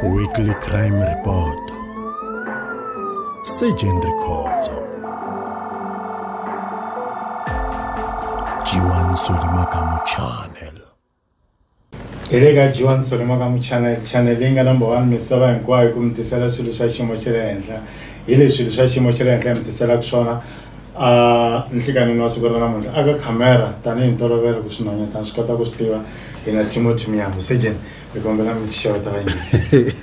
Weekly Crime Report Surgeon Rikhotso Jiwan Solimakamu Channel hi le ka jiwan solimakamu channel channel leyi nga number one misava hinkwayo ku mi tisela swilo swa xiyimo xa le henhla hi leswi swilo swa xiyimo xa le henhla hi mi tiselaka swona nhlikanini wa siku ra namuntlha aka khamera tanihi ntolovelo ku swinhwanyatana swi kota ku swi tiva hina timothy miyambo sejen hi kombela mi xeweta vayingiseri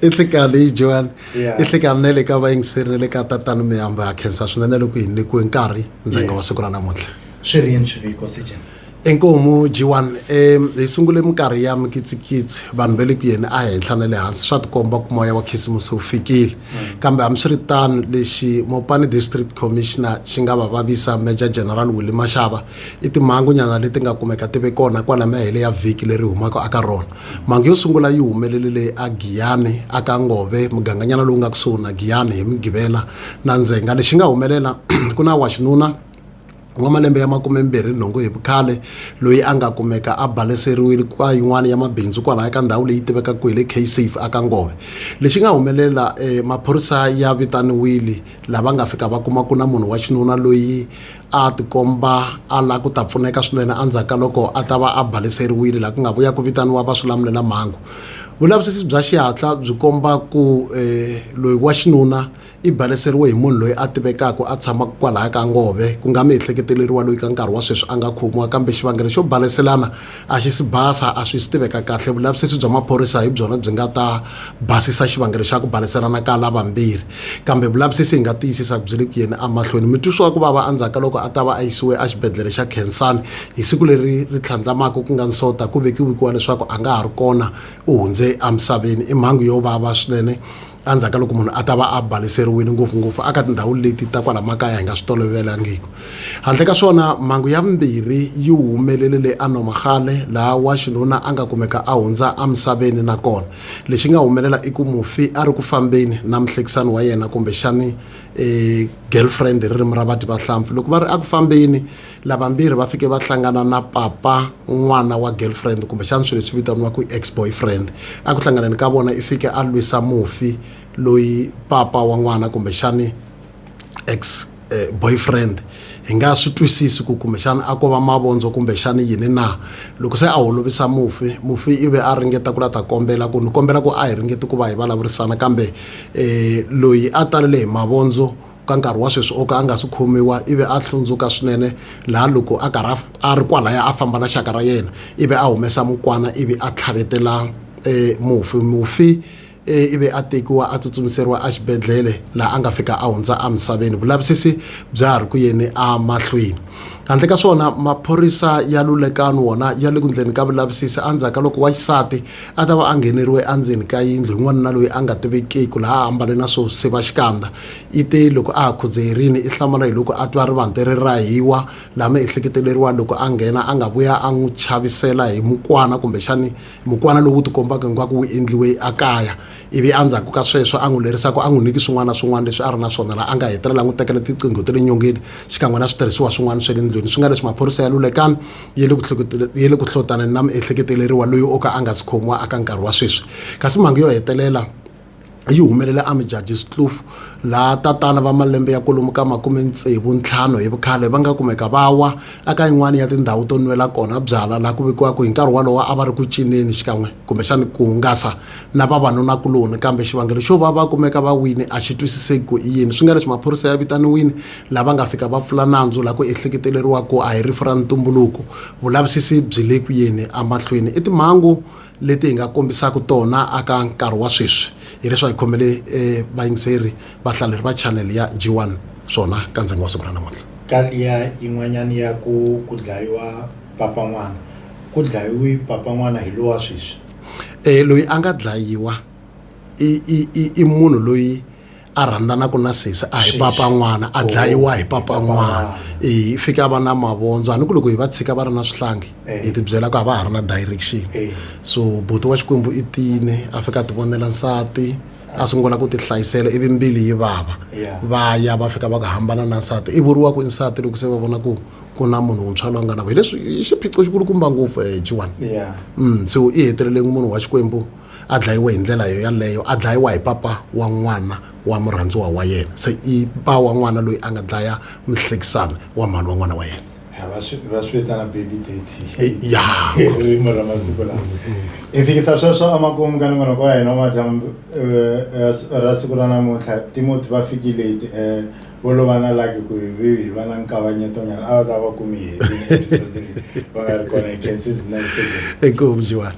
i nhlikani yi joan i nhlikani na le ka vayingiseri na le ka tatana miyambo ya khensa swinene loko hi nyikiwe nkarhi ndzanga wa siku ra namuntlha swi ri yini swiviko sejen Inkomu G1 e hi sungule minkarhi ya mikitsikitsi vanhu va le ku yeni a henhla na le hansi swa tikomba ku moya wa khisimusi wu fikile hmm. kambe hambiswiritano lexi Mopani District Commissioner xi nga va vavisa Major General Willie Mashava i timhangunyana leti nga kumeka ti ve kona kwala mahele ya vhiki leri humaka aka rona mhangu yo sungula yi humelele leyi a Giyani aka Ngove muganganyana lowu nga kusuhi na Giyani hi Mugivela na Ndzhenga lexi nga humelela ku na wa xinuna wa malembe ya makumembirhi nhungu hi vukhale loyi a nga kumeka a baleseriwile kwa yin'wana ya mabindzu kwalaya ka ndhawu leyi tivekaka ku hi le ksafe aka ngove lexi nga humelela um maphorisa ya vitaniwile lava nga fika va kuma ku na munhu wa xinuna loyi a tikomba a la ku ta pfuneka swinene endzhaku ka loko a ta va a baleseriwile laha ku nga vuya ku vitaniwa va swi lamulela mhangu vulavisisi bya xihatla byi komba ku um loyi wa xinuna I baleseriwe hi munhu loyi a tivekaka a tshamaka kwalaya ka ngove ku nga miehleketeleriwa loyi ka nkarhi wa sweswi a nga khomiwa kambe xivangelo xo baleselana a xi si basa a swi si tiveka kahle vulavisisi bya maphorisa hi byona byi nga ta basisa xivangelo xa ku baleselana ka lavambirhi kambe vulavisisi hi nga tiyisisa ku byi le ku yeni emahlweni mitwisiwa ku vava endzhaku ka loko a ta va a yisiwe exibedhlele xa khensani hi siku leri ri tlhandlamaka ku nga nsota ku vekiwikiwa leswaku a nga ha ri kona u hundze emisaveni i mhangu yo vava swinene endzhaku ka loko munhu a ta va a baleseriwile ngopfungopfu aka tindhawu leti ta kwala makaya hi nga swi tolovelangiki handle ka swona mhangu ya vumbirhi yi humelele le anomagale laha wa xinuna a nga kumeka a hundza emisaveni nakona lexi nga humelela i ku mufi a ri ku fambeni na muhlekisani wa yena kumbexani um girlfriend hi ririmi ra vadyi vahlampfi loko va ri eku fambeni lavambirhi va fike va hlangana na papa n'wana wa girlfriend kumbexana swilo leswi vitaniwaka ex boyfriend a ku hlanganeni ka vona i fike a lwisa mufi loyi papa wa n'wana kumbexani ex eh, boyfriend hi nga swi twisisi ku kumbexana a ko va mavondzo kumbexana yini na loko se a holovisa mufi mufi i ve a ringeta ku la ta kombela ku ni kombela ku a hi ringeti ku va hi vulavurisana kambe um loyi a talele hi mavondzo Ka nkarhi wa sweswi o ka a nga si khomiwa, ivi a hlundzuka swinene, laha loko a karhi a ri kwalaya a famba na xaka ra yena, ivi a humesa mukwana ivi a tlhavetela mufi. Mufi ivi a tekiwa a tsutsumiseriwa exibedlhele laha a nga fika a hundza emisaveni. Vulavisisi bya ha ri ku yeni emahlweni. Handle ka swona, maphorisa ya Lulekani wona ya le ku ndleni ka vulavisisi endzhaku ka loko wa xisati a ta va a ngheneriwe endzeni ka yindlu hi n'wanuna loyi a nga tivekiki laha a ambale na swo siva xikandza. i te loko a ha khudzeyerini i hlamala hi loko a twa rivante ri rahiwa lama ehleketeleriwa loko a nghena a nga vuya a n'wi chavisela hi mukwana kumbexani mukwana lowu tikombaka hingaku wu endliwe a kaya ivi a ndzhaku ka sweswo a n'wi lerisa ku a n'wi niki swin'wana na swin'wana leswi a ri na swona laha a nga hetelela a n'wi tekela tiqingho ta le nyongeni xikan'we na switirhisiwa swin'wana swa le ndlwini swi nga leswi maphorisa ya lulekani ya le ku ya le ku hlotaneni na miehleketeleriwa loyi o ka a nga si khomiwa aka nkarhi wa sweswi kasi mhangu yo hetelela yi humelela eMjudges Kloof laha tatana va malembe ya kwalomu ka makume tsevu ntlhanu hi vukhale va nga kumeka va wa eka yin'wana ya tindhawu to nwela kona byala laha ku vekiwaka hi nkarhi wolowo a va ri ku cineni xikan'we kumbexani ku hungasa na vavanuna-kuloni kambe xivangelo xo va va kumeka va wini a xi twisiseki ku i yini swi nga leswi maphorisa ya vitaniwini laha va nga fika va pfula nandzu laha ku ehleketeleriwa ku a hi rifu ra ntumbuluko vulavisisi byi le ku yeni emahlweni i timhangu leti hi nga kombisaka tona aka nkarhi wa sweswi hileswi hi khomele eh, vayingiseri vahlaleri va channel ya g1 swona ka ndzhengo wa siku ra namuntlha ka liya yin'wanyana ya ku ku dlayiwa papa n'wana ku dlayiwi papa n'wana hi lowa sweswi um loyi a nga dlayiwa i, i, i, i munhu loyi a rhandzanaku na sesi a hi papa n'wana a dlayiwa hi papa n'wana i fike a va na mavondzo a ni ku loko hi va tshika va ri na swihlangi hi tibyela ku a va ha ri na direction so buti wa xikwembu i tine a fika a ti vonela nsati a sungula ku ti hlayisela ivi mbili yi vava va ya va fika va ku hambana na nsati i vuriwa ku nsati loko se va vona ku ku na munhu wuntshwa loyi a nga na ku hi leswi i xiphiqo xikulukumba ngopfu um jiwani so i heteleleni munhu wa xikwembu a dlayiwe hi ndlela yo yaleyo a dlayiwa hi papa wa n'wana wa murhandziwa wa yena se i pa wa n'wana loyi a nga dlaya muhlekisani wa mhani wa n'wana wa yena Ha, va swi va swi vitana baby daddy Eh, ya hi ririmi ra masiku lawa hi fikisa sweswo emakumu ka nongonoko wa hina wa madyambu eh, eh, s- ra siku ra namuntlha timoti va fikile hi ti- eh, vo lova na laki ku hi vi hi va na nkavanyeto nyana a va ta va kumi hi heti episode leyi va nga ri kona hi khensi next segment. inkomu jiwani